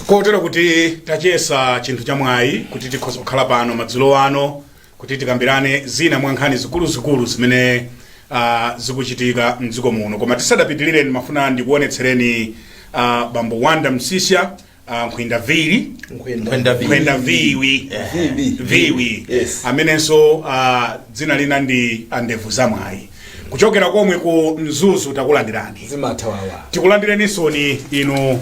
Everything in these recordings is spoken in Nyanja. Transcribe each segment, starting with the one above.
kotero kuti tachesa chinthu cha mwayi kuti tikhoza kukhala pano madzulo ano kuti tikambirane zina mwa nkhani zikuluzikulu zimene uh, zikuchitika mdziko muno koma tisadapitirire ndimafuna ndikuonetsereni uh, bambo wonder msiska uh, nkhwinda vili Nkhwenda vili. nkhwenda viwi viwi Yes. amenenso uh, dzina lina ndi andevu za mwayi kuchokera komwe ku mzuzu takulandirani zimathawawa tikulandirensoni inu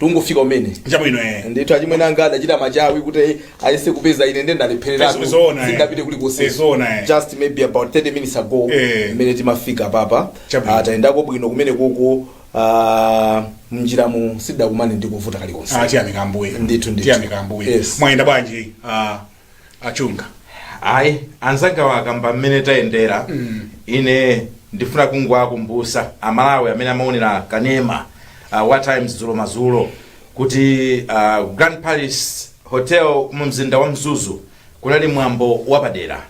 tungofika umene chabwino eh ndithu achimwene anga adachita machawi kuti ayese kupeza ine nde ndalephereratu Yes, zoona, eh. sindapite kulikonse Yes, zoona, eh. just maybe about 30 minutes ago Eh. mmene timafika papa Chabwino. Ah, tayendako bwino kumene kuko ah, mnjiramu sitidakumane ndi kovuta kalikonse ah tiyamika ambuye Ndithu, ndithu. tiyamika ambuye Yes. mwayenda bwanji ah a chunga ayi anzangawa akamba mmene tayendera ine ndifuna kungowakumbutsa amalawi amene amaonera kanema uh, wa times dzulo madzulo kuti uh, grand palace hotel mu mzinda wa mzuzu kunali mwambo wapadera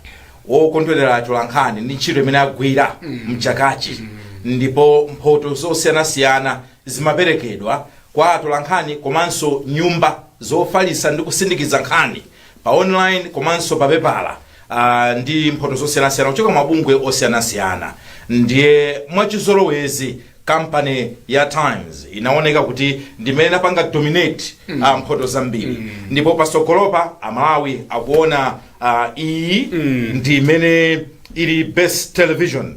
wokondwerera atolankhani ndi ntchito imene agwira mchakachi ndipo mphoto zosiyanasiyana zimaperekedwa kwa atolankhani komanso nyumba zofalitsa ndi kusindikiza nkhani pa online komanso pa pepala ah, ndi mphoto zosiyanasiyana kuchoka mabungwe osiyanasiyana ndiye mwachizolowezi kampani ya times inaoneka kuti ndimene inapanga dominate mm. uh, mphoto zambiri mm. ndipo pasogolopa amalawi akuona uh, iyi mm. ndi imene ili best television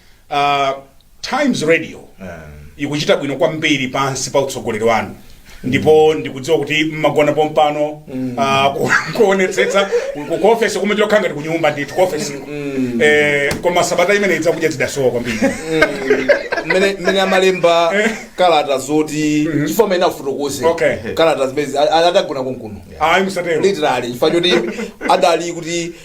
uh, times radio ikuchita bwino kwambiri pansi pa utsogoleri wanu ndipo ndikudziwa kuti mmagona pompano uh, ku- kuonetsetsa ku- ku ofesi kumene lokhala ngati kunyumba ndithu ku ofesi eh, koma sabata imene ija zakudya zidasowa kwambiri mmene mmene amalemba kalata zoti chifukwa amene afotokoze Okay. kalata zimene zi- a- a- adagona konkuno ayi musatero literally chifukwa choti adali kuti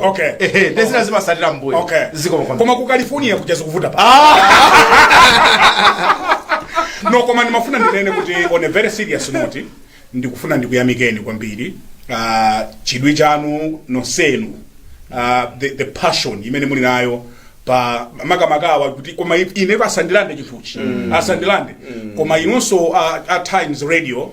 okay ehe nde zina zimatsatira mbuyo okay ziko mkono koma ku california kuja zikuvuta pano koma ndimafuna ndinene kuti on a very serious note ndikufuna ndikuyamikeni kwambiri uh, chidwi chanu nonsenu uh, the, the passion imene muli nayo pa makamakawa kuti koma i- ine pasandilande chinthuchi mm. asandilande mm. koma inonso uh, at times radio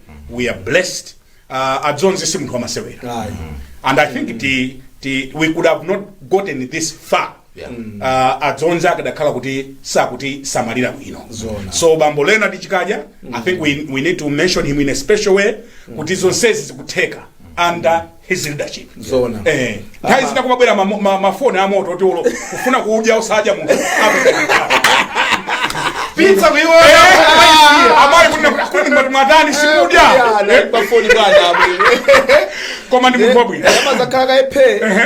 we are blessed uh, adzonzi si munthu wamasewera Ayi. and i think ti, ti, we could have not gotten this far Yeah. uh, adzonzi akadakhala kuti sakutisamalira bwino Zona. so bambo leonard chikadya i think we, we need to mention him in a special way kuti zonsezi zikutheka under izi zidachitika Zoona. eh nthawi zina kumabwera ma- ma- mafoni a moto oti uli kufuna kudya osadya munthu pizza kuiona amali kunena kuti akuni ngati mwatani simukudya Eh, pafoni bwana abwino koma ndi munthu wabwino akamazakhala kaephe Ehe.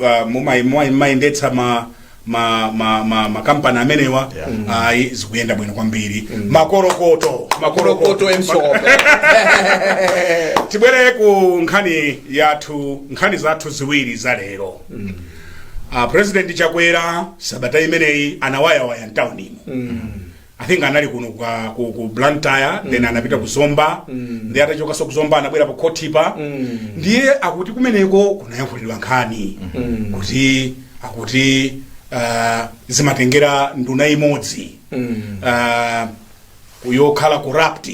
uh, mumai- mumai- mumayendetsa ma ma ma ma makampani amenewa ayi zikuyenda bwino kwambiri makorokoto makorokoto amhlophe tibwere ku nkhani yathu nkhani zathu ziwiri za lero uh, president chakwera sabata imeneyi anawayawaya mtaunimo i think anali kuno kwa- ku, ku Blantyre then anapita ku Zomba ndiye atachokaso ku Zomba anabwera pa khotipa ndiye akuti kumeneko kunayankhulidwa nkhani kuti akuti ah, zimatengera nduna imodzi Ah, yokhala corrupt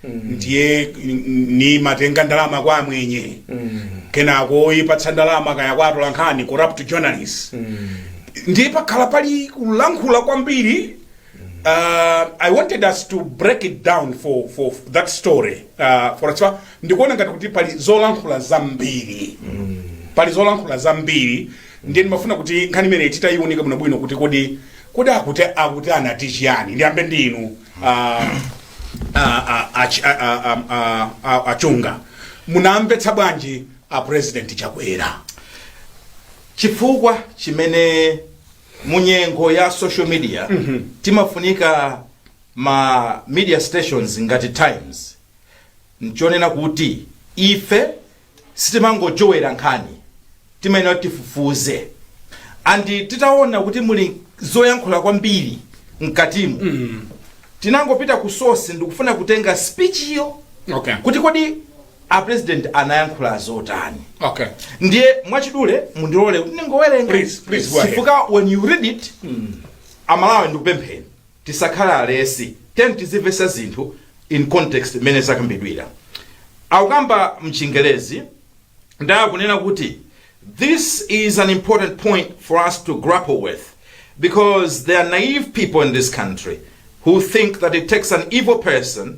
ndiye n- nkumatenga ndalama kwa amwenye kenako nkuyipatsa ndalama kaya kwa atolankhani corrupt journalist ndiye pakhala pali kulankhula kwambiri Uh, I wanted us to break it down for, for that story uh, for chifukwa ndikuona ngati kuti pali zolankhula zambiri pali zolankhula zambiri ndiye ndimafuna kuti nkhani imeneyi titayiunika bwinobwino kuti kodi kodi akuti akuti anati chiyani ndiyambe ndi inu uh, a- a- a- chi- a- a- a- a- a- a Chunga munawamvetsa bwanji a president Chakwera chifukwa chimene mu nyengo ya social media timafunika ma media stations ngati Times nchonena kuti ife sitimangojowera nkhani timayenera kuti tifufuze and titaona kuti muli zoyankhula kwambiri mkatimu tinangopita ku source ndikukafuna kutenga speech yo okay kuti kodi a president anayankhula zotani Okay. ndiye mwachidule mundilole kuti ndingowerenga Please, please, go ahead. chifukwa when you read it aMalawi ndikupempheni tisakhale alesi tendi tizimvetsa zinthu in context mmene zakambidwira akukamba mchingerezi ndakunena kuti this is an important point for us to grapple with because there are naive people in this country who think that it takes an evil person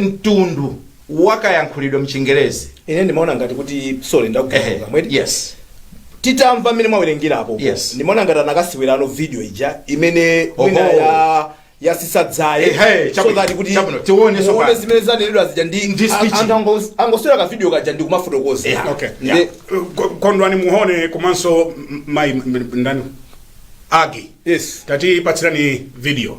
mtundu wakayankhulidwe mchingerezi ine ndimaona ngati kuti sorry ndakugwirani mawu yes titamva mmene mwawerengerapo Yes. ndimaona ngati anakasewerano video ija imene Oho. mwina ya yasisa dzaye Ehe, so chabwino, that kuti chabwino, tione muone tsopano. zimene zanenedwa zija ndi Ndi an- speech. anthu ango- angoswera ka video kaja ndi kumafotokoza Yeah. Okay. Yeah. Ndi- Ko- Kondwani Mhone komanso m- mai m- m- ndani Aggie yes tatipatsireni video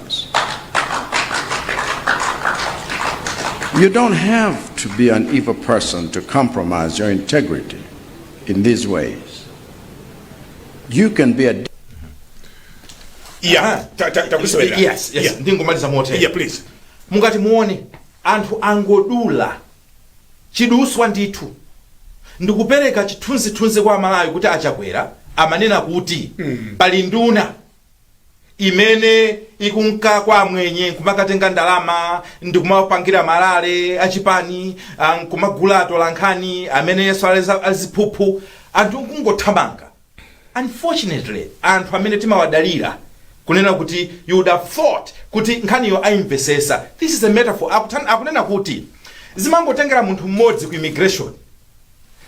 You don't have to be an evil person to compromise your integrity in these ways. You can be a yeah ta- ta- takusowera yes yes yeah. ndingomaliza motere yeah please mungati muone anthu angodula chiduswa ndithu ndikupereka chithunzithunzi kwa amalawi kuti a Chakwera amanena kuti pali nduna imene ikunka kwa amwenye nkumakatenga ndalama ndikumapangira marally a chipani ah, nkumagula atolankhani amene yes ali za- aziphuphu anthu nkungothamanga unfortunately anthu amene timawadalira kunena kuti you would have thought kuti nkhaniyo ayimvesesa this is a metaphor Akutan- akunena kuti zimangotengera munthu mmodzi ku immigration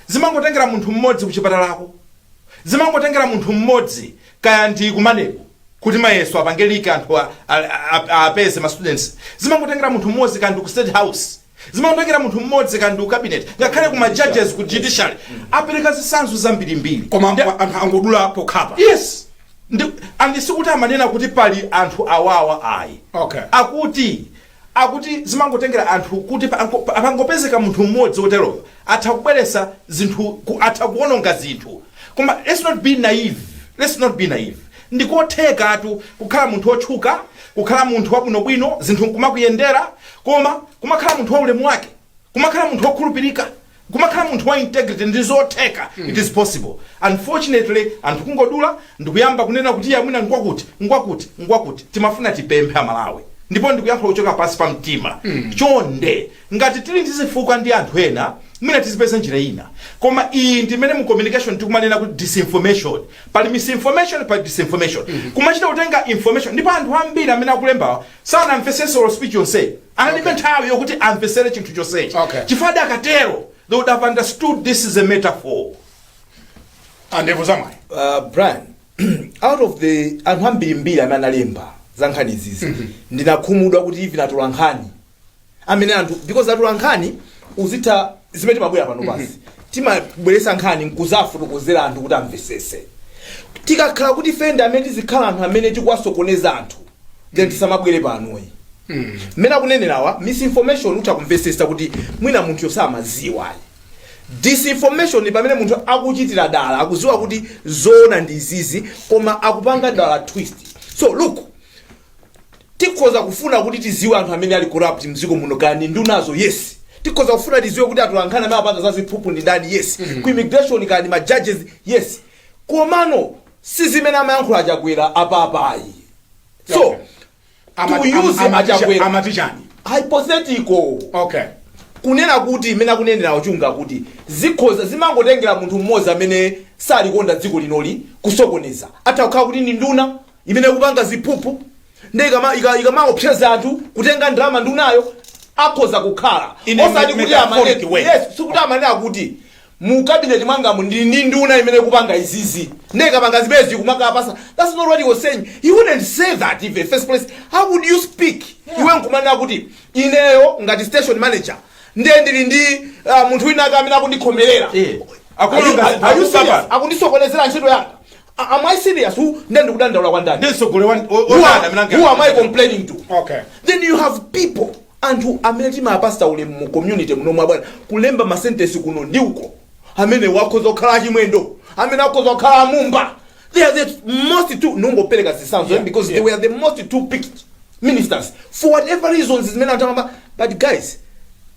zimangotengera munthu mmodzi ku chipatalako zimangotengera munthu mmodzi kaya ndi ku MANEB kuti mayeso apange leak anthu a- a- a- a- apeze ma students zimangotengera munthu mmodzi kaya ndi ku state house zimangotengera munthu mmodzi kaya ndi ku cabinet ngakhale ku ma judges ku judiciary apereka zitsanzo zambirimbiri koma Ndi- anthu- anthu angodula pokhapa yes and sikuti amanena kuti pali anthu awawa ayi Okay. akuti Akuti zimangotengera anthu kuti pangopezeka munthu mmodzi woteroyo atha kubweretsa zinthu atha kuwononga zinthu. Koma let's not be naive, let's not be naive. Ndi kothekatu kukhala munthu wotchuka, kukhala munthu wabwinobwino, zinthu nkumakuyendera koma kumakhala munthu waulemu wake. kumakhala munthu wokhulupirika kumakhala munthu wa integrity ndi zotheka it is possible unfortunately anthu kungodula ndikuyamba kunena kuti iya mwina ngwakuti ngwakuti ngwakuti timafuna tipemphe amalawi ndipo ndikuyankha kuchoka pansi pa mtima chonde ngati tili ndi zifukwa ndi anthu ena mwina tizipeza njira ina koma iyi ndi imene mu communication tikumanena kuti disinformation pali misinformation pali disinformation kumachita kutenga information ndipo anthu ambiri amene akulembawa sanamvesese olo speech yonseyo analibe Okay. nthawi yokuti amvesere chinthu chonsecho Okay. chifukwa adakatero they would have understood this is a metaphor and it was uh, brian out of the anthu ambirimbiri amene analemba za nkhani izizi ndinakhumudwa kuti even atolankhani amene anthu because atolankhani udziwa zimene timabwera pano pasi timabweresa nkhani nkuzafotokozera anthu kuti amvesese tikakhala kuti ife ndi amene tizikhala anthu amene tikuwasokoneza anthu then tisamabwere pano ayi mmene akunenerawa misinformation utha kumvesesa kuti mwina munthuyo samaziwa disinformation ni pamene munthu akuchitira dala akuziwa kuti zoona ndi izizi koma akupanga dala twist so look tikhoza kufuna kuti tidziwe anthu amene ali corrupt mdziko muno kaya ndi ndunazo yes tikhoza kufuna tidziwe kuti atolankhani amene apanga za ziphuphu ndi ndani yes ku immigration kaya ndi ma judges yes komano si zimene amayankhula achakwera apapa ayi. so Ama- to use ama- amaticha- achakwera amatichani hypothetical okay kunena kuti mmene akunenera a Chunga kuti zikhoza zimangotengera munthu mmodzi amene salikonda dziko linoli kusokoneza atha kukhala kuti ndi nduna imene ikupanga ziphuphu nde ikama- ika- ikamaopseza anthu kutenga ndalama ndunayo akhoza kukhala In a osati kuti metaphoric amane- way. yes, sikuti amanena kuti mu cabinet mwangamu ndili ndi nduna imene ikupanga izizi nde ikapanga zimenezi kumakapatsa that's not what he was saying he wouldn't say that in the first place how would you speak iwe nkumanena kuti ineyo ngati station manager nde ndili ndi uh, munthu wina ake amene akundikhomerera Eh. Are you- are you serious? akundisokonezera ntchito yanga A- Am I serious? Who then ndikudandaula kwa ndani? Ndiye mtsogoleri wa- o- Who onani amene am, ange- who am I complaining to? Okay. Then you have people anthu amene timawapatsa ulemu mu community muno mwa bwana kulemba masentesi kuno ndi uko amene akhoza kukhala achimwendo amene akhoza kukhala amumba they are the most two ndongopereka zitsanzo Yeah, because yeah. they were the most two picked ministers for whatever reasons zimene anthu akamba but guys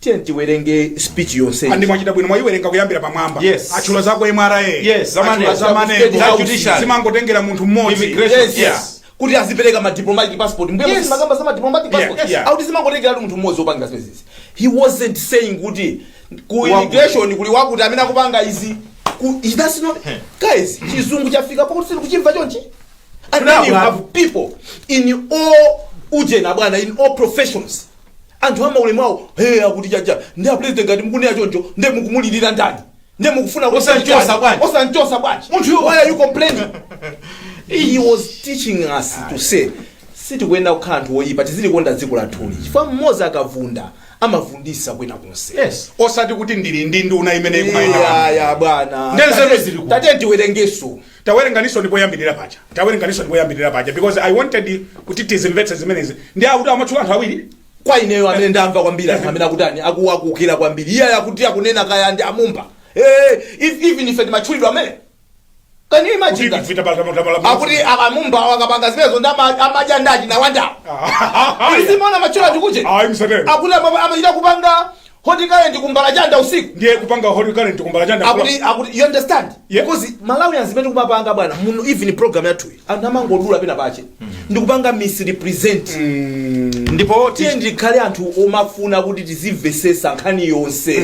tiyeni tiwerenge speech yonse and mwachita bwino mwayiwerenga kuyambira pamwamba Yes. atchula za ku MRA Yes, za Maneb, za Maneb, za judiciary. zimangotengera munthu mmodzi Immigration. Yes, Yeah. yes. kuti azipereka ma diplomatic passport mbwee Yes. yes. mwakamba za ma diplomatic Yeah, passport yeah. akuti zimangotengeratu munthu mmodzi opanga zimenezi he wasn't saying kuti ku Wakuti. immigration kuli wakuti amene akupanga izi ku that's not guys chizungu chafika pakuti sitikuchimva chonchi And then you have people in all ujena bwana in all professions anthu amaulemu awo he akuti chatha ndi apresident ngati mukunena choncho nde mukumulirira ndani nde mukufuna kuti Osamchotsa chani? bwanji? osamchotsa bwanji Munthu iwe- why are you complaining he was teaching us to say sitikuyenera kukhala anthu oyipa tizilikonda dziko lathuli chifukwa mmodzi akavunda amavunditsa kwina konse yes osati kuti ndili ndi nduna imene ikumayenda iyayi bwana Nde nzeru zili ku- tate tiwerengenso tawerenganinso ndi poyambirira paja tawerenganinso ndi poyambirira paja because i wanted kuti tizimvetse zimenezi ndi akuti amatchula anthu awiri kwa ineyo amene ndamva kwambiri anthu amene akutani akuwakukira kwambiri iye akuti akunena kaya ndi amumba Eh, if- even ife timatchulidwa amene can you imagine that? akuti amumba akapanga zimenezo ndi ama- amadya ndalama nawandawo izimona matchula tikuche Ayi, musatero. akuti ama- amachita kupanga Hot current ku Mbalachanda usiku. ndiye kupanga hot current ku Mbalachanda Akuti akuti you understand? Yeah. Because Malawians zimene timapanga bwana muno even program yathu iyi, anthu amangodula pena pache. Ndikupanga misrepresent. ndipo tiyeni tikhale anthu omafuna kuti tizimvetsetsa nkhani yonse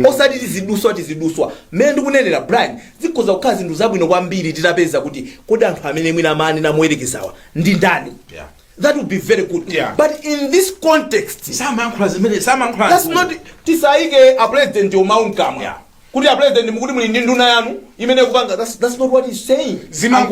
osati tizidutswa tizidutswa mmene ndikunenera brian zikhoza kukhala zinthu zabwino kwambiri titapeza kuti kodi anthu amene mwina amanena moyerekezawa ndi ndani Yeah. that would be very good Yeah. but in this context samayankhula zimene samayankhula that's not tisayike a president mawu mkamwa Yeah. kuti a president mukuti muli ndi nduna yanu imene kupanga that's, that's not what he's saying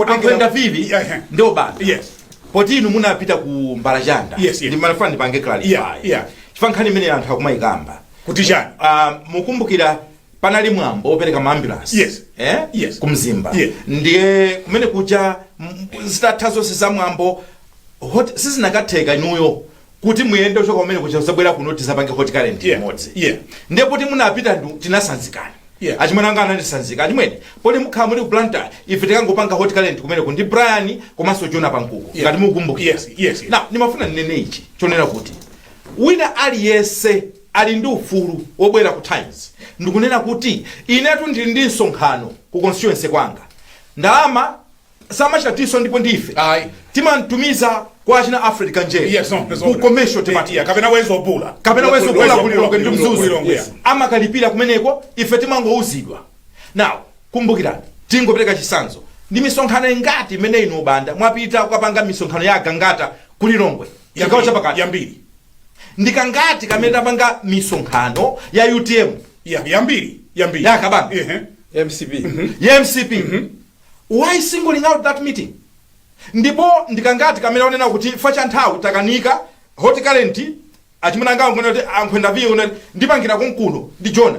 angoenda vivi Yeah, yeah. ndio bana Yes. poti inu munapita ku mbalachanda Yes, yes. ndimanafuna ndipange clarify Yeah, yeah. chifukwa nkhani imene anthu akumayikamba kuti chani Ah, mukumbukira panali mwambo wopereka maambulansi Yes. eh? Yes. ku mzimba Yeah. ndiye kumene kuja m- zitatha zonse za mwambo hot- sizinakatheka inuyo kuti muyende kuchoka kumene kuja kuzabwera kuno tizapange hot current Yeah. imodzi Yeah. ndiye poti munapita ndu- tinasanzikana Yeah. achimwene anga anandisanzika achimwene poti mukhala muli ku blantyre ife tikangopanga hot current kumeneku ndi brian komanso jona pankuku Yeah. ngati mukumbukira Yes, yes, yes. now nimafuna ninene ichi chonena kuti wina aliyense ali ndi ufulu wobwera ku Times ndikunena kuti inetu ndili ndi msonkhano ku constituency kwanga. Ndalama samachita tinso ndipo ndi ife Ayi. timamtumiza kwa achina Alfred Kanjere Yes, no, that's ku all. commercial Iya, department kapena wezo bula kapena wezo bula kulilongwe ndi mzuzu kulilongwe amakalipira kumeneko ife timangouzidwa now kumbukirani tingopereka chisanzo ndi misonkhano ingati imene inu banda mwapita kukapanga misonkhano ya a gangata kulilongwe chigawo chapakati yambiri ndi kangati kamene tapanga misonkhano ya utm ya yambiri yambiri ya kabambe. Ehe. mcp ya mcp why singling out that meeting ndipo ndikangati kamene wanena kuti fa cha nthawi takanika hot current achimuna anga ankhwenda kuti ankhwenda viye unati ndipangira konkuno ndi jona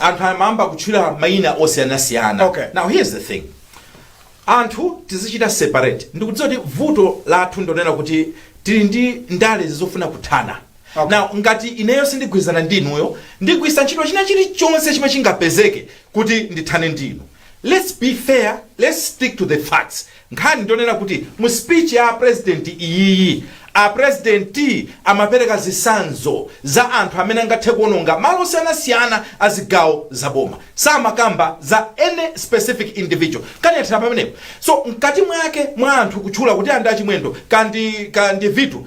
anthu amayamba kutchula mayina osiyanasiyana Okay. now here's the thing anthu tizichita separate ndikudziwa kuti vuto lathu ndonena kuti tili ndi ndale zizofuna kuthana Okay. now ngati ineyo sindigwirizana ndi inuyo ndigwiritsa ntchito china chilichonse chimene chingapezeke kuti ndithane ndi inu let's be fair let's stick to the facts Nkhani ndiyonena kuti mu speech ya apresident iyiyi apresident amapereka zisanzo za anthu amene angathe kuononga malo osiyanasiyana a zigawo za boma samakamba za any specific individual. Nkhani yathera pamenepo. So mkati mwake mwa anthu kutchula kuti a ndi a Chimwendo ka ndi ka ndi vitu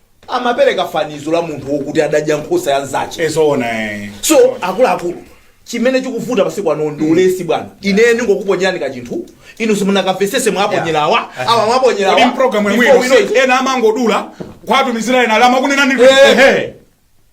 amapereka fanizo la munthu wokuti adadya nkhosa ya nzache e zoona eh. so akuluakulu chimene chikuvuta masiku ano ndi ulesi bwana ine ndingokuponyerani kachinthu inu simunakamvesese mwaponyerawa awa kodi mwaponyerawa mpulogalamu yomweyo ena amangodula kwatumizira ena lama kunena ndi Eh. ehe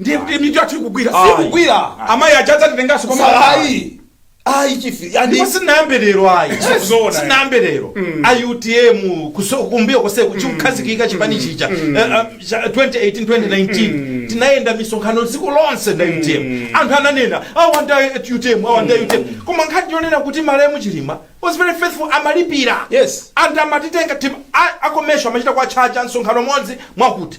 ndiye kuti mitu yathu ikugwira Ayi. sikugwira amayi aja adzatitenganso koma ayi ayi chief ndipo yani sinayambe lero ayi Zoona. sinayambe lero iutm kuso- kumbuyo konseku chikukhazikika chipani chija Eh, eh, cha- 2018 2019 tinayenda misonkhano dziko lonse ndi utm anthu ananena awanda utm awanda utm koma nkhani yonena kuti malemu chilima was very faithful amalipira Yes. anthu amatitenga tim- a- akomesho amachita kuwachaja msonkhano umodzi mwakuti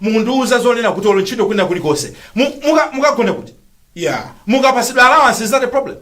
Mukundiuza zonena kuti olo ntchito kwina kulikonse mu, muka, mukagone kuti? Yeah. Mukapatsidwa allowance is that a problem?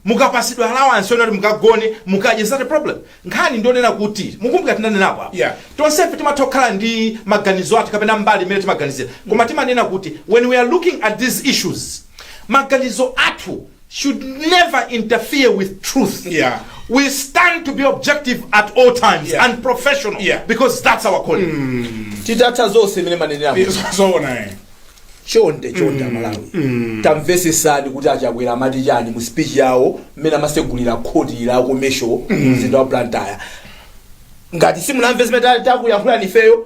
Mukapatsidwa allowance yonena kuti mukagone, mukadye is that a problem? Nkhani ndiyonena kuti, mukumbukira tinanenapo apa. Yeah. Tonsefe timatha kukhala ndi maganizo athu kapena mbali imene timaganizira. Koma timanena kuti when we are looking at these issues maganizo athu should never interfere with truth. Yeah. We stand to be objective at all times Yeah. and professional Yeah. because that's our calling. titatha zonse zimene amanenera munthu. zoona eh. chonde chonde amalawi tamvetsetsani kuti achakwera amati chani mu speech yawo mmene amasegulira khoti la komesho mumzinda wa blantyre ngati simunamve zimene ta- takuyankhulani ifeyo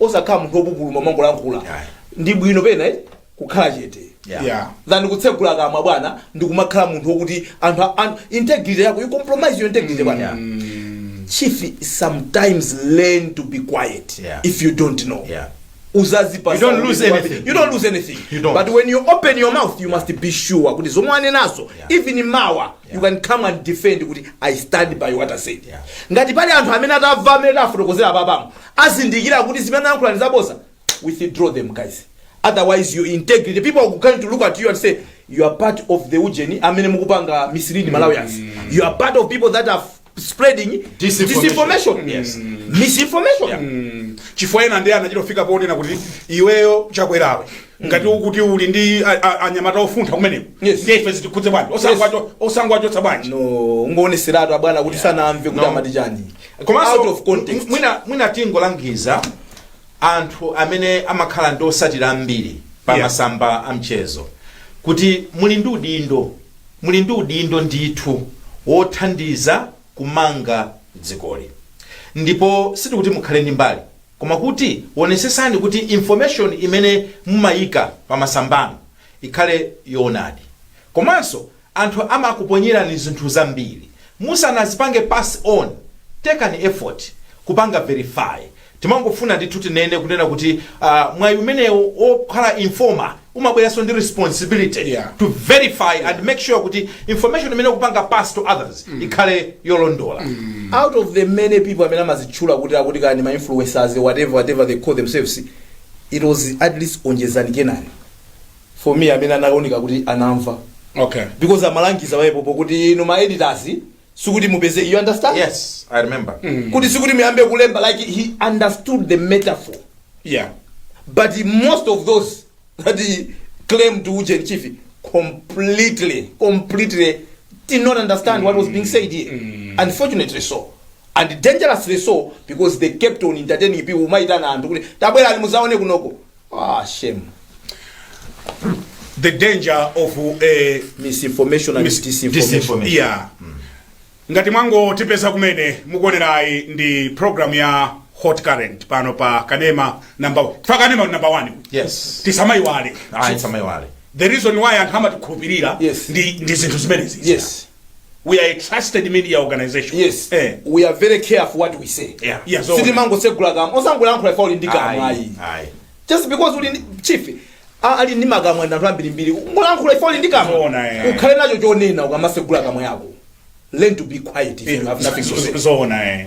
osakhala munthu opupuluma umangolankhula Yeah. ndi bwino pena eh, kukhala chete Yeah. Yeah. than kutsekula kamwa bwana ndikumakhala munthu okuti anthu a- an- integrity yako you compromise your integrity bwana chief sometimes learn to be quiet Yeah. if you don't know Yeah. udzadziwa You don't lose anything. you don't lose anything You don't. but when you open your mouth you must be sure kuti zomwe wanenazo Yeah. even mawa you can come and defend kuti i stand by what i said Yeah. ngati pali anthu amene atamva mmene tafotokozera apamo azindikira kuti zimene anayankhula ndi zabodza withdraw them guys otherwise your integrity people are going to look at you and say you are part of the ujeni amene mukupanga mislead malawians you are part of people that are spreading Disinformation. disinformation yes misinformation chifukwa ena ndiye anachitofika ponena kuti iweyo chakwerawe ngati ukuti uli ndi a- a- anyamata ofuntha kumeneko Yes. ndiye ife zitikhudze bwanji Osangwacho- osangwachotsa bwanji no kungowonetseratu abwana kuti sanamve kuti No. amati chani komanso out of context. mw- mwina mwina tingolangiza anthu amene amakhala ndi otsatira ambiri pa Yeah. masamba a mchezo kuti muli ndi udindo muli ndi udindo ndithu wothandiza kumanga dzikoli ndipo sitikuti mukhale ndi mbali koma kuti wonetsetsani kuti information imene mumayika pa masambano ikhale yoonadi komanso Anthu amakuponyerani zinthu zambiri musanazipange pass on, take an effort kupanga verify. Timangofuna ndithu tinene kunena kuti aah mwayi umenewo wokhala informer umabweranso ndi responsibility Yeah. to verify Yeah. and make sure kuti information imene ukupanga pass to others ikhale yolondola. out of the many people amene amazitchula kuti akuti kaya ndi ma influencers whatever whatever they call themselves it was at least onjezani kenani for me amene anaoneka kuti anamva Okay. because amalangiza pompopo kuti inu ma editors sikuti mupeze you understand Yes, I remember. kuti sikuti muyambe kulemba like he understood the metaphor Yeah. but most of those that he claimed to Ujen Chief completely, completely did not understand what was being said here. Unfortunately so. And dangerously so because they kept on entertaining people. Umaitana anthu kuti tabwerani muzaone kunoko. Ah, shame. The danger of a Misinformation and mis- disinformation. disinformation. Yeah. Ngati mwangotipeza kumene mukuonerayi ndi program ya Hot Current pano pa Kanema number pa Kanema number 1. Yes. Tisamaiwale. Ayi tisamaiwale. The reason why anthu amatikhulupirira Yes. ndi ndi zinthu zimenezi. Yes. we are a trusted media organization yes eh we are very careful what we say Yeah. Yeah, so- sitimangotsegula kamwa osangolankhula chifukwa uli ndi kamwa ayi ayi ayi just because uli ndi chief a- ali ndi makamwa ndi anthu ambirimbiri kungolankhula chifukwa uli ndi kamwa Zoona, eh. ukhale nacho chonena ukamasegula kamwa yako learn to be quiet if you have nothing to say zoona eh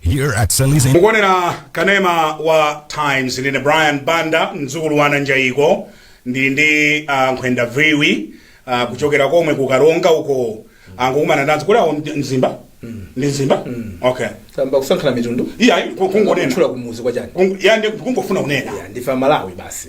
Here at Sally's Inn. mukuonera kanema wa times ndine brian banda mdzukulu wa nanjayiko ndili ndi uh, nkhwenda viwi uh, kuchokera komwe ku karonga uko angokumana nazo kuti awo ndi mzimba ndi mzimba okay tayamba kusankhana mitundu iya ku- kungonena kutchula kumudzi kwa chani Kungo- ya ndi- kungofuna kunena Ya, ndife amalawi basi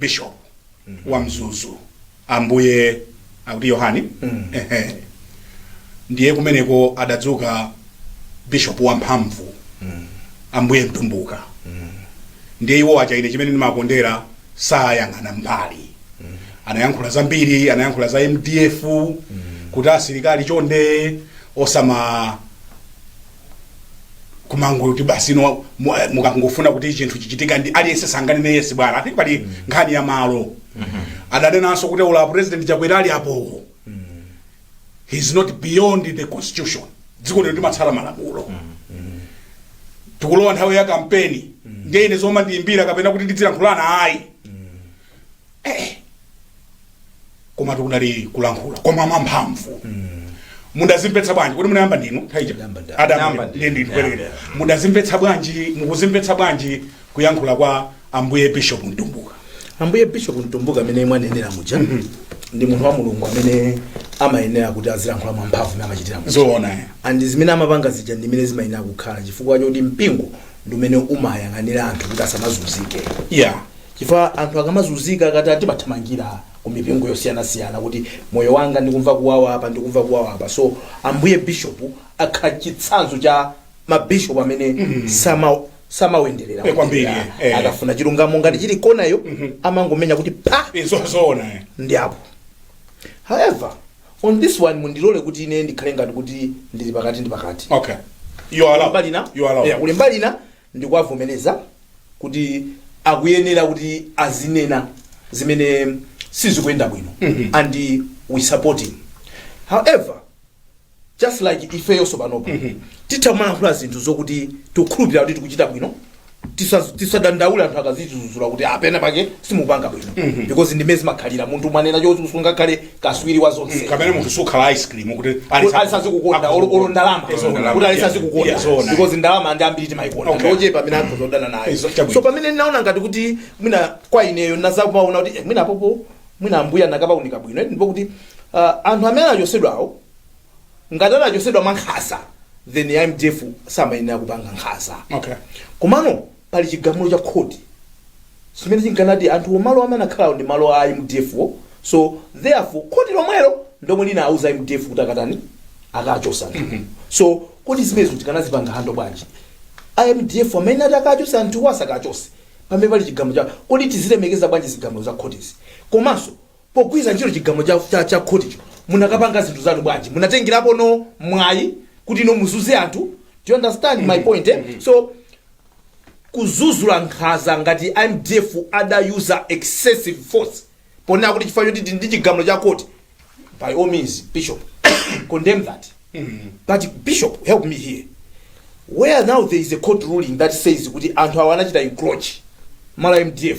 bishop wa mzuzu ambuye akuti yohani Ehe. ndiye kumeneko adadzuka bishop wamphamvu ambuye mtumbuka ndiye iwo aja ine chimene ndimakondera sayang'ana mbali anayankhula zambiri anayankhula za mdf kuti asilikali chonde osama kumangoti basi no mu- eh, mukangofuna kuti chinthu chichitike ndiye aliyense azingonena yesi bwana ati pali nkhani ya malo adanenanso kuti ula president chakwera ali apowo he's not beyond the constitution dziko lino limatsata malamulo tikulowa nthawi ya kampeni ndiye ine zomandiyimbira kapena kuti tidzilankhulana ayi komatu kunali kulankhula koma mwamphamvu mudazimvetsa bwanji kuti munayamba ndinu thaija Adayamba ndi- adayamba ndi- ndiye ndinu yeah, kwerere yeah. mudazimvetsa bwanji mukuzimvetsa bwanji kuyankhula kwa ambuye bishop mtumbuka ambuye bishop mtumbuka amene mwanenera muja ndi munthu wa mulungu amene amayenera kuti azilankhula mwamphamvu mmene amachitira muja zoona eh. and zimene amapanga zija ndi zimene zimayenera kukhala chifukwa choti mpingo ndi umene umayang'anira anthu kuti asamazunzike ya chifukwa anthu akamazunzika timathamangira ku mipingo yosiyanasiyana kuti moyo wanga ndikumva kuwawa apa ndikumva kuwawa apa so ambuye bishop akhala chitsanzo cha mabishop amene sama samanyengerera Eh, kwambiri, kunyengerera. eh, eh. akafuna chilungamo ngati chili kona iyo amangomenya kuti pa izo zoona eh. ndi apo however on this one mundilole kuti ine ndikhale ngati kuti ndili pakati ndi pakati okay you are allowed mbali ina you are allowed yeah, kuli mbali ina ndikuwavomereza kuti akuyenera kuti azinena zimene sizikuyenda bwino and we support him however just like ifeyonso panopa titha kumalankhula zinthu zokuti tikukhulupirira kuti tikuchita bwino tisa- tisadandaule anthu akatidzudzula kuti a pena pake simupanga bwino because ndimene zimakhalira munthu umanena choti usungakhale kaswiri wa zonse komwe munthu sukhala ice cream kuti aliyense azikukonda olo ndalama kuti aliyense azikukonda because ndalama ndi ambiri timayikonda Okay. ndi ochepa mwina anthu odana nayo Izo, chabwino. so pamene ndinaona ngati kuti mwina kwa ineyo ndizakumaona kuti eh, mwina apopo mwina ambuye anakapaunika bwino ndi pokuti ah, anthu amene achotsedwawo ngati anachotsedwa mwa nkhaza then a mdf samayenera kupanga nkhaza Okay. komano pali chigamulo cha khoti chimene chinkanena kuti anthu omalo amene akhala ndi malo a mdf wo so therefore khoti lomwelo ndomwe linauza mdf kuti akatani akachotse anthu so kodi zimenezo tikanazipanga handle bwanji amdf amene ati akachotse anthu wo asakachotse pamene pali chigamulo cha khoti tizilemekeza bwanji zigamulo za khotizi komanso Pogwiritsa ntchito chigamulo cha, cha, cha khoticho, munakapanga zinthu zanu bwanji? Munatengerapo no mwayi kuti no muzunze anthu? Do you understand my point eh? So kudzudzula nkhaza ngati mdf ada-user excessive force ponena kuti chifukwa choti ndi chigamulo cha khoti by all means bishop condemn that but bishop help me here where now there is a court ruling that says kuti anthu awa anachita encroach malo a mdf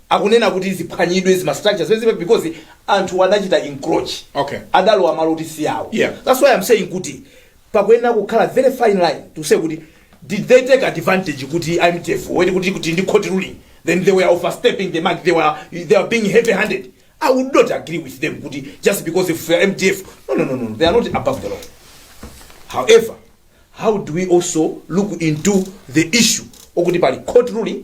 akunena kuti ziphwanyidwe zima structures zimene zilipo because anthu adachita encroach Okay. adalowa malo oti si awo Yeah. that's why i'm saying kuti pakuyenera kukhala very fine line to say kuti did they take advantage kuti mdf poti kuti kuti ndi court ruling then they were overstepping the mark they were they were being heavy handed i would not agree with them kuti just because if you are mdf no no no no they are not above the law however how do we also look into the issue okuti pali court ruling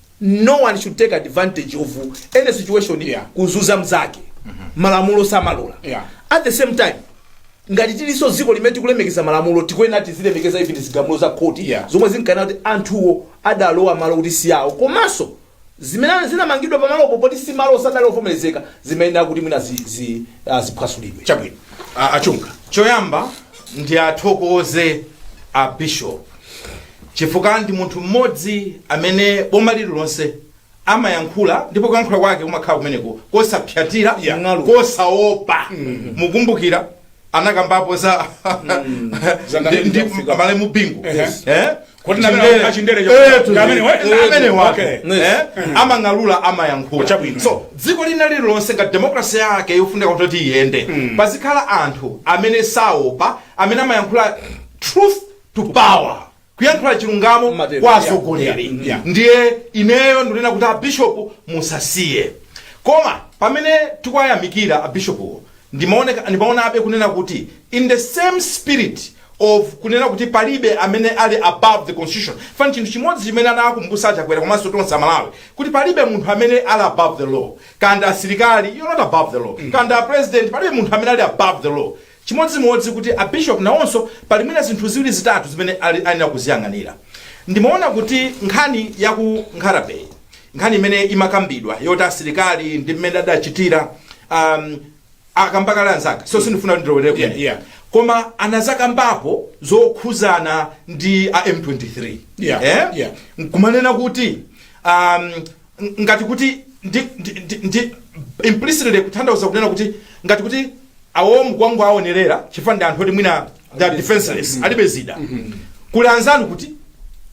no one should take advantage of any situation Yeah. kuzunza mzake malamulo samalola Yeah. at the same time ngati tilinso dziko limene tikulemekeza malamulo tikuyenera tizilemekeza even zigamulo za khoti Yeah. zomwe zinkanena kuti anthuwo adalowa malo kuti si awo komanso zimene zinamangidwa pamalopo poti si malo sadali ovomerezeka zimayenera kuti mwina zi- zi- ah, ziphwasulidwe chabwino A- achunga choyamba ndiwathokoze a bishop Chifukwa ndi munthu mmodzi amene boma lililonse amayankhula ndipo kuyankhula kwake kumakhala kumeneko kosapyatira Yeah. Mng'alu. kosaopa mukumbukira anakambapo za Za ndi- ndi amalemu bingu Ehe. Eh? Kuti na amene Chindere. achindere Eh, chakula. tu- Ndi amene wa- eh, amene wa- okay. eh? amang'alula amayankhula Chabwino. so dziko lina lililonse ngati demokrasi yake yofunika kuti iyende pazikhala anthu amene saopa amene amayankhula truth to power kuyankhula chilungamo Matero, kwa yeah, atsogoleri yeah, yeah. ndiye ineyo ndinena kuti abishopu musasiye koma pamene tikuwayamikira abishopuwo ndimaoneka- ndimaonabe kunena kuti in the same spirit of kunena kuti palibe amene ali above the constitution if anything chinthu chimodzi chimene anakumbusa achakwera komanso tonse amalawi kuti palibe munthu amene ali above the law kaya nda asilikali you're not above the law kaya nda president palibe munthu amene ali above the law Chimodzimodzi kuti a Bishop nawonso pali mwina zinthu ziwiri zitatu zimene akuyenera kuziyang'anira. Ndimaona kuti nkhani ya ku Nkhata Bay, nkhani imene imakambidwa yoti asilikali ndi mmene adachitira, um, akamba kale anzanga, so sindifuna kuti ndilowerere Yeah, kumene. yeah. Koma anadzakambapo zokhuzana ndi a M23. Yeah, Eh? yeah. nkumanena kuti um, ng- ngati kuti ndi, ndi, ndi, ndi implicitly kutanthauza kunena kuti ngati kuti awo mukuwangowonerera chifukwa ndi anthu oti mwina they are defenseless alibe zida kuli anzanu kuti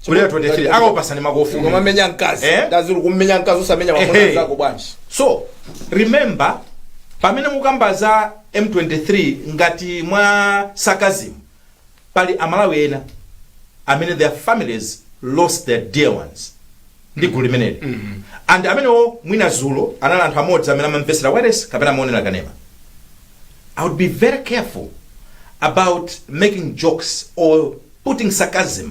kuli M23 akakupatsani makofi ukamamenya mkazi Eh? amati osati kummenya mkazi osamenya Ehe. mamuna nzako bwanji so remember pamene mukamba za m23 ngati mwa sarcasm pali amalawi ena amene their families lost their dear ones ndi gulu limeneli and amenewo mwina dzulo anali anthu amodzi amene amamvetsera wireless kapena amaonera kanema i would be very careful about making jokes or putting sarcasm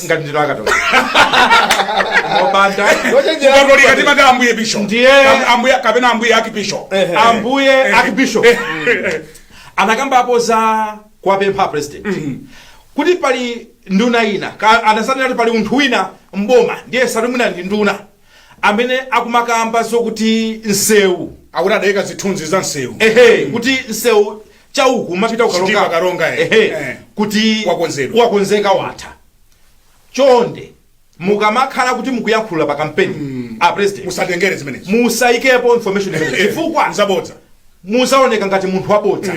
ngati ndinu akatolika Mukupanda Lochenjera kukatolika kuti- timati ambuye bishop Ndiye- Am- ambuye kapena ambuye archbishop Ehe. ambuye archbishop anakambapo za kuwapempha president kuti pali nduna ina ka- anazanena kuti pali munthu wina mboma ndiye sitikudziwa ndi nduna amene akumakamba zokuti nsewu akuti adayika zithunzi za nsewu ehe kuti nsewu chauku umapita Sitima kuKaronga Karonga, eh. Ehe, Eh. kuti Wakonzeka. wakonzeka watha chonde mukamakhala kuti mukuyankhula pa kampeni a president musatengere zimenezi musayikepo information imeneyo. chifukwa nzabodza muzaoneka ngati munthu wabodza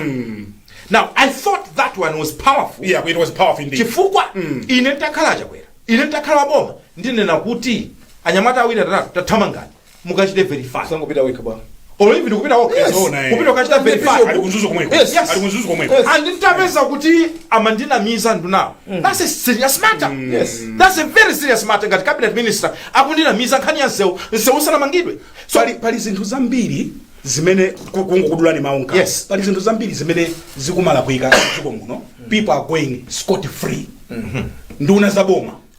now i thought that one was powerful yeah it was powerful indeed chifukwa ine ntakhala chakwera ine ntakhala waboma ndinena kuti anyamata awiri atatu tathamangani mukachite verify sangopita wekha bwana or even kupita wokha Yes. Zoona, eh. kupita kukachita verify Ali ku Mzuzu komweko. Yes. Yes. Ali ku Mzuzu komweko. Yes. and nditapeza kuti amandinamiza ndunawo that's a serious matter Yes. that's a very serious matter ngati cabinet minister akundinamiza nkhani ya nsewu nsewu usanamangidwe so pali, pali zinthu zambiri zimene ku- kungokudulani mawu mkamwa. Yes. pali zinthu zambiri zimene zikumalakwika dziko muno people are going scot free nduna za boma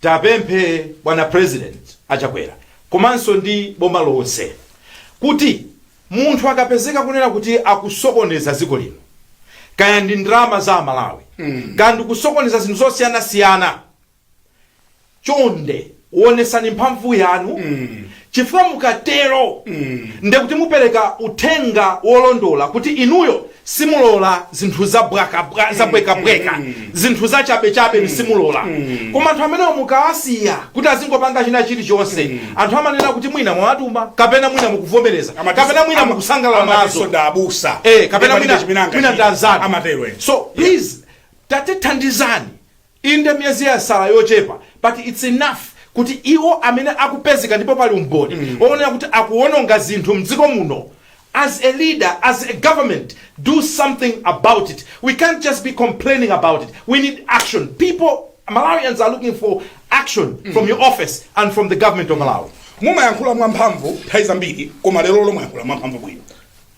Tapemphe bwana president a Chakwera komanso ndi boma lonse kuti munthu akapezeka kunena kuti akusokoneza dziko lino kaya ndi ndalama za amalawi kaya ndikusokoneza zinthu zosiyanasiyana chonde onesani mphamvu yanu Chifukwa mukatero ndiye kuti mupereka uthenga wolondola kuti inuyo simulola zinthu za bwaka bwa, za bweka bweka, zinthu za chabe chabe inu simulola. Koma anthu amenewo mukawasiya kuti azingopanga china chilichonse, anthu amanena kuti mwina mwawatuma kapena mwina mukuvomereza Amati- kapena mwina ama- mukusangalala amatinso nazo. ndi abusa. Eh, kapena Ndipo mwina palibe chimene angachite. mwina ndi anzanu. Amatero ena. So please tatithandizani Inde, miyezi yasala yochepa, but it's enough kuti iwo amene akupezeka ndipo pali umboni woonekera kuti akuwononga zinthu m'dziko muno, as a leader, as a government, do something about it. We can't just be complaining about it. We need action. People, Malawians are looking for action from your office and from the government of Malawi. mumayankhula mwamphamvu nthawi zambiri koma lero lomwe mwayankhula mwamphamvu bwino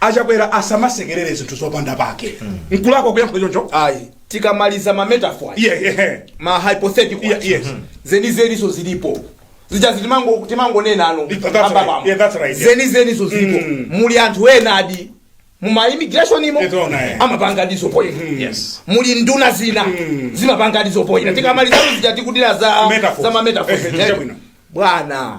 achakwera asamasekerere zinthu zopanda pake nkulakwa kuyankhula choncho ayi tikamaliza ma metaphor iye ehe. ma hypothetical Yeah, yes. zenizeniso zilipo zija zitimango- timangonena pano That's right. ambabamo. Yeah, that's right, yeah. zenizeniso zilipo Mm. muli anthu enadi muma immigration imo It's all right. amapanga diso poyera Yes. muli nduna zina zimapanga diso poyera tikamaliza zija tikudira za Metaphors. za ma metaphors. Eh, eh, chabwino. bwana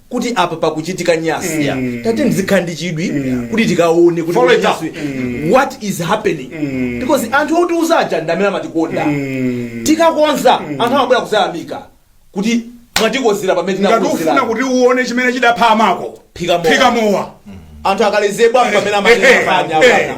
kuti apa pakuchitika nyasi ya tate muzikhala ndi chidwi kuti tikaone kuti Follow it up. nyasi, what is happening because anthu otiuza aja ndi amene amatikonda tikakonza anthu amabwera kuzayamika kuti mwatikonzera pamene ngati ufuna tinakonzera kuti uone chimene chidapha amako Phika mowa. phika mowa anthu akalezebwa pamene Ehe, amacheza panya ehe. apana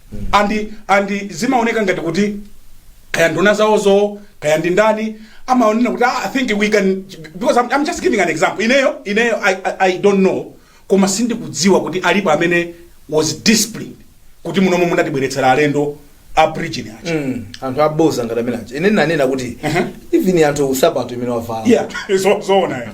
and and zimaoneka ngati kuti kaya nduna zawozo kaya ndi ndani amaonena kuti "Ah, i think we can because I'm, i'm just giving an example ineyo ineyo I, I, i don't know koma sindikudziwa kuti alipo amene was disciplined kuti munomo munatibweretsera alendo a Bridgin aja Mm, anthu aboza ngati amene aja ine nanena kuti even anthu nsapato zimene wavala yeah so so ona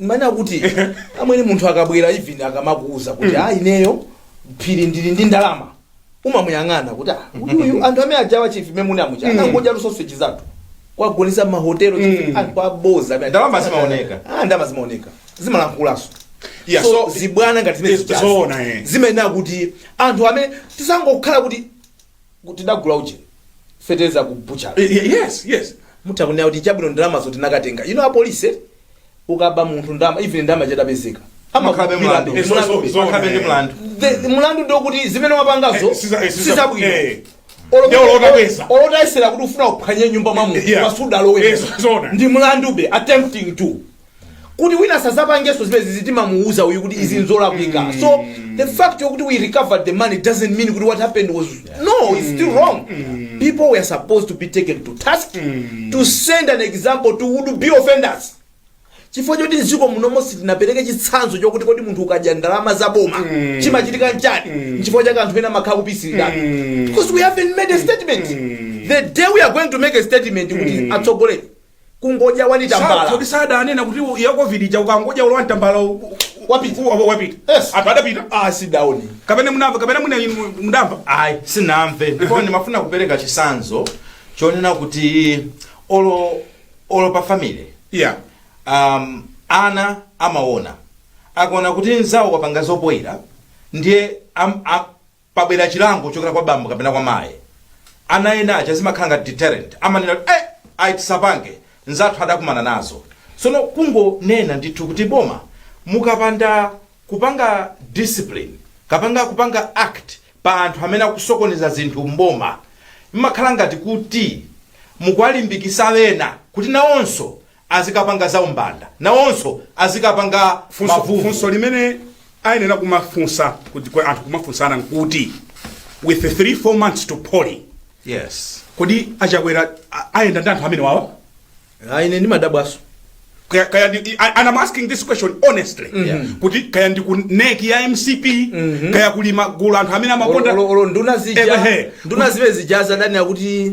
mmene akuti amwene munthu akabwera even akamakuuza kuti a ineyo phiri ndili ndi ndalama umamuyang'ana kuti "Ah, uyu- uyu anthu amene ajawa chief m'mene muja anangodya ma sausage zathu kuwagonetsa mahotelo Mm. anthu aboza amene- Ndalama zimaoneka. Ah, ndalama zimaoneka zimalankhulaso Yeah, so, so- zibwana ngati zimene Yes, zijazo. zoona, eh. zimayenera kuti anthu amene tisangokhala kuti Ku tidagula uje fetereza ku butchery. Eh, ye- yes yes mutha kunena kuti chabwino ndalamazo tinakatenga a polisi eti ukaba munthu ndalama even ndalama itapezeka umakhalabe mlandu. Eh, so- so- so- Umakhalabe ndi mlandu. mlandu ndi wokuti zimene wapangazo Eh, siza- eh, siza- sizabwino eh. Olo- Ndiye olo utapeza. olo utayesera kuti ufuna kuphwanya nyumba mwa munthu Yeah. koma sudalowe Eh, so- so- ndi mlandube attempting to kuti wina sazapangenso zimene zizi timamuuza uyu kuti izi nzolakwika so the fact yokuti we recovered the money doesn't mean kuti what happened was no it's still wrong people were supposed to be taken to task to send an example to would be offenders chifukwa choti mdziko munomo sitinapereke chitsanzo chokuti kodi munthu ukadya ndalama za boma chimachitika nchani nchifukwa chake anthu ena amakhala akupitirira because we haven't made a statement the day we are going to make a statement kuti atsogoleri kungodya wani Sa- tambala kodi sadanena kuti u- ya covid ija ukangodya olo wani tambala u- u- Wapita. u- u- wapita Yes. anthu adapita a sindidaone kapena munamva kapena muna inu mudamva ayi sinamve ndipo ndimafuna kupereka chisanzo chonena kuti olo olo pa family yeah um, ana amaona akaona kuti nzawo wapanga zopoira ndiye am, am, pabwera chilango kuchokera kwa bambo kapena kwa mayi ana ena aja zimakhala ngati deterrent amanena kuti, eh ayi tisapange nzathu adakumana nazo tsono kungonena ndithu kuti boma mukapanda kupanga discipline kapanga kupanga act pa anthu amene akusokoneza zinthu mboma mmakhala ngati kuti mukuwalimbikisa ena kuti nawonso azikapanga za umbanda nawonso azikapanga funso, mavuvu funso limene ayenera kumafunsa kuti kwa anthu kumafunsana nkuti with 3 4 months to polling yes kodi a Chakwera a- ayenda ndi anthu amene wawa Ah, ine ndimadabwaso Kaya- kaya ndi- I- and I'm asking this question honestly Yeah. kuti kaya ndi ku NEC ya MCP kaya kuli ma gulu anthu amene amakonda olo nduna zija Ehe. nduna zibe zijazi ndani akuti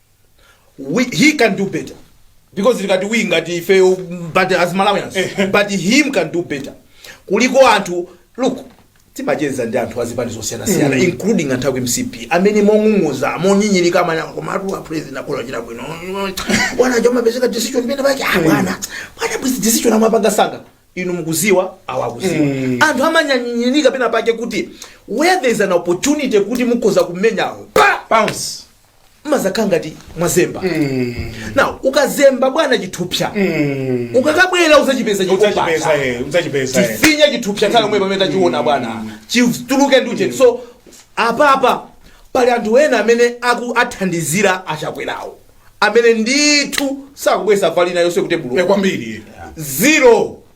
we, he can do better because ngati we ngati ife mm, but as malawians but him can do better kuliko anthu look timacheza ndi anthu azipani zosiyanasiyana mm. including anthu aku mcp amene mong'ung'udza monyinyirika amanena komatu apresident akulephera china bwino bwana zomapezeka decision pena pake ah bwana bwana bwisi decision amapanga msanga inu mukudziwa awa akudziwa mm. anthu amanyinyirika pena pake kuti where there is an opportunity kuti mukhoza kumenyawo pa bounce mumadzakhala ngati mwazemba now ukazemba bwana chithupsa ukakabwera udzachipeza chokupasa udzachipeza eh. tifinya chithupsa nthawi yomwe pamene tachiona bwana chituluke ndi ujeni so apapa pali anthu ena amene akuwathandizira a Chakwerawo amene ndithu sakubweza valina yonse kuti Eh, buluku kwambiri zero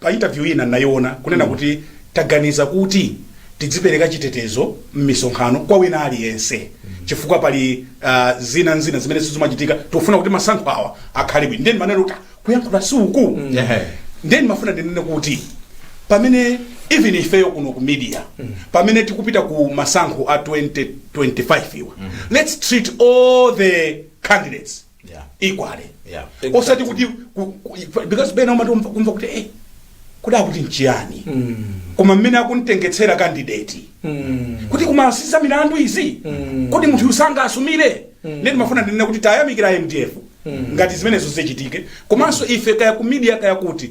pa interview ina ndinayiona kunena kuti taganiza kuti tidzipereka chitetezo mmisonkhano kwa wina aliyense chifukwa pali uh, zina ndi zina zimene zimachitika tikufuna kuti masankho awa akhale bwino nde nimanena kuti "Ah, kuyankhula si uku Ehe. nde nimafuna ndinene kuti pamene even ifeyo kuno ku media pamene tikupita ku masankho a 2025 awa let's treat all the candidates Yeah. equally Yeah. osati kuti ku- ku- ikwa- because pena umati umva- kumva kuti eh, kuti akuti nchiyani koma mmene akumtengetsera kandideti kuti ku Masisa milandu izi kuti munthuyu msanga asumire nde ndimafuna ndinena kuti tayamikira mdf ngati zimenezo zichitike komanso ife kaya ku media kaya kuti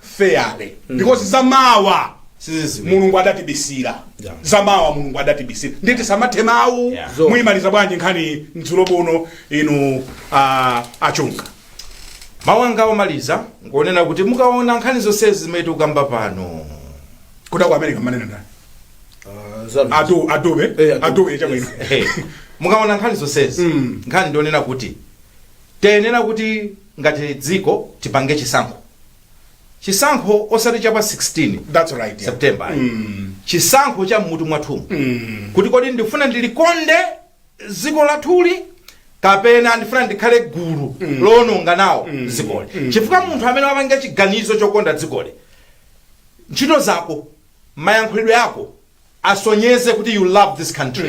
fairly because zamawa Siziziwika. mulungu adatibisira Yeah. zamawa mulungu adatibisira ndiye tisamathe mawu Yeah. Zo. muimaliza bwanji nkhani madzulo ano inu ah, achunga mawu anga omaliza ngwonena kuti mukaona nkhani zonse zimene tikukamba pano kuti ku america mumanena ndani Ah, zanu. Adu- adobe Eh, Adobe. adobe chabwino Hey, mukaona nkhani zonsezi Mm. nkhani ndi yonena kuti tiyenera kuti ngati dziko tipange chisankho chisankho osati chapa 16 That's right, yeah. september ayi. chisankho cha mmutu mwathumu kuti kodi ndifuna ndilikonde dziko lathuli kapena ndifuna ndikhale gulu loononga nawo dzikoli chifukwa munthu amene wapanga chiganizo chokonda dzikoli ntchito zako mayankhulidwe ako asonyeze kuti you love this country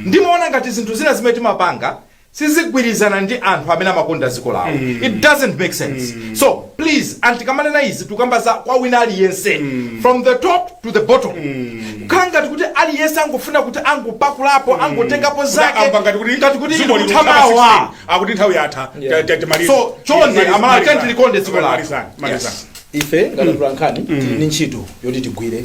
ndimaona ngati zinthu zina zimene timapanga sizigwirizana ndi anthu amene amakonda dziko lawo it doesn't make sense so please ndipo tikamanena izi tikukamba za kwa wina aliyense from the top to the bottom kukhala ngati kuti aliyense angofuna kuti angopakulapo angotengapo zake amva ngati kuti ngati kuti dziko lino tama- likutha mawa 16, akuti nthawi yatha Yeah. ta- ta- timalize. So, chonde, Timalize, amalawi, malizani. tiyeni tilikonde dziko lathu. Malizani, malizani. ife ngati atolankhani tili ndi ntchito yoti tigwire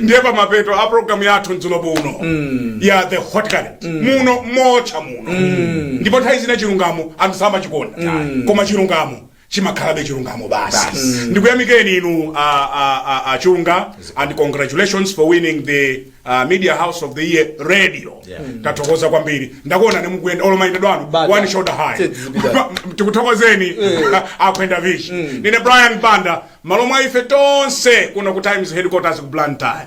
ndiye pamapeto a programu yathu mdzulo uno ya the hot current muno motentha muno ndipo nthawi zina chilungamo anthu samachikonda koma chilungamo chimakhalabe chilungamo basi ndikuyamikeni inu a- a- a- a chunga and congratulations for winning the uh, media house of the year radio Yeah. tathokoza kwambiri ndakuonani mukuyenda olo mayendedwe anu one shoulder high tikuthokozeni akwenda vishi ndine brian banda malo mwa ife tonse kuno ku times headquarters ku blantyre